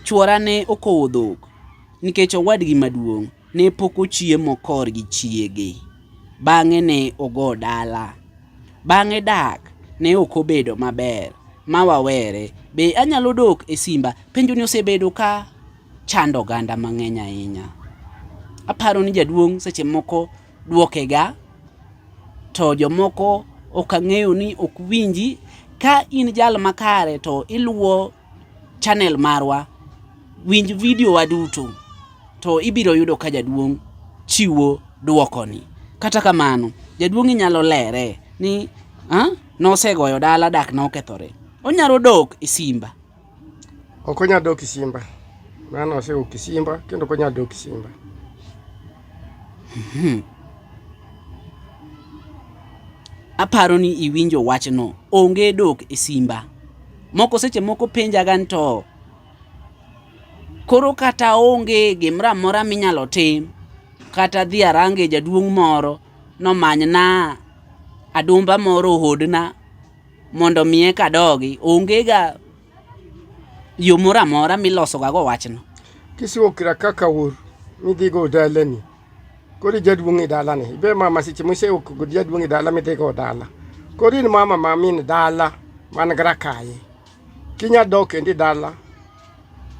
Chwora ne okowo dhok nikech owadgi maduong' ne pok ochiemo kor gi chiege. Bang'e ne ogo dala. Bang'e dak ne ok obedo maber ma wawere. Be anyalo dok e simba? Penjoni osebedo ka chando oganda mang'eny ahinya. Aparo ni jaduong' seche moko dwokega to jomoko ok ang'eyo ni ok winji. Ka in jal makare to iluwo. channel marwa, winj video wa duto to ibiro yudo ka jaduong' chiwo dwokoni. Kata kamano, jaduong' inyalo lere ni ah, nosegoyo dala dak nokethore. Onyalo dok e Simba. Ok onyal dok e Simba. Mano osewuok e Simba kendo ok onyal dok e Simba. Hmm. Aparo ni iwinjo wachno. Onge dok e Simba. Moko seche moko penjaga ni to koro kata onge gimoro amora minyalo tim kata dhi arange jaduong' moro nomanyna adumba moro ohodna mondo miye kadogi ongega yo moro amora milosogago wachno. Kisiwo kira kaka ur midhigo dalani kori jaduong' e dala ni ibe mama seche mose ok gud jaduong' e dala midhigo dala kori in mama ma min dala man grakaye kinya dok endi dala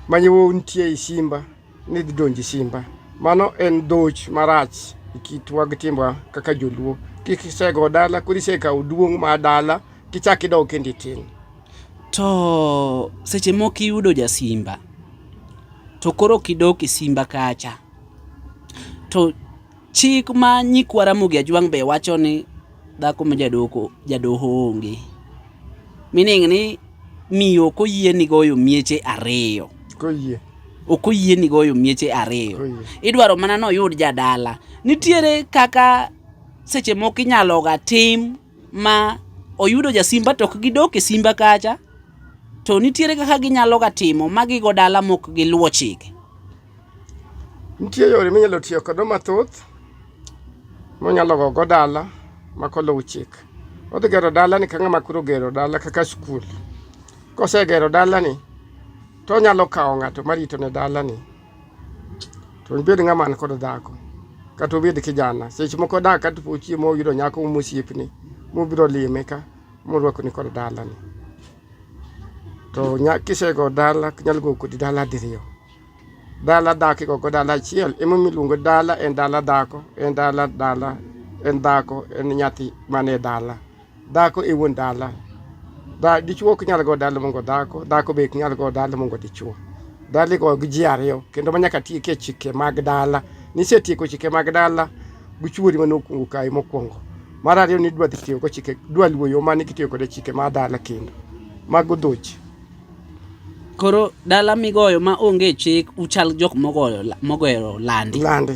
manyewo nitie e simba ni dhi donji simba mano en dhoch marach e kitwa gi timba kaka joluo kik isego dala kori isekawo duong' ma dala kichak idok endi tin to seche moko iyudo jasimba to koro kidok e simba kacha To chik ma nyikwa Ramogi Ajwang' be wacho ni dhako ma jadoko jadoho onge. Meaning ni miyo ok oyieni goyo mieche ariyo. Koyie. Ok oyieni goyo mieche ariyo. Koyie. Idwaro mana noyud jadala. Nitiere kaka seche moko inyalo ga tim ma oyudo jasimba to ok gidok e simba kacha to nitiere kaka ginyalo ga timo ma gigo dala mok giluwo chike. Nitie yore minyalo tiyo kodo mathoth monyalo go go dala makoluw chik. Odhi gero dalani ka ng'ama koro gero dala kaka skul. Kosegero dalani to onyalo kawo ng'ato marito ne dalani to obed ng'ama an kod dhako kata obed kijana seche moko dak kata po chiemo oyudo nyako mosiepni mobiro lime ka morwakoni kod dalani to kisego dala nyalo go kodi dala diriyo. Dala dak ikoko dala achiel emomiyo iluongo dala en dala dhako en dala dala en dhako en nyathi mane dala dhako e wuon dala da dichuo ok nyal go dala mongo dhako dhako be ok nyal go dala mongo dichuo dala igo gi ji ariyo kendo ma nyaka tieke chike mag dala nisetieko chike mag dala gichuori mane okuongo kae mokwongo mar ariyo ni dwa dhi tiyo go chike dwa luwo yo mane kitiyo kode chike mar dala kendo mago dhochi Koro dala migoyo ma onge chik uchal jok mogoyo la- mogero landi. landi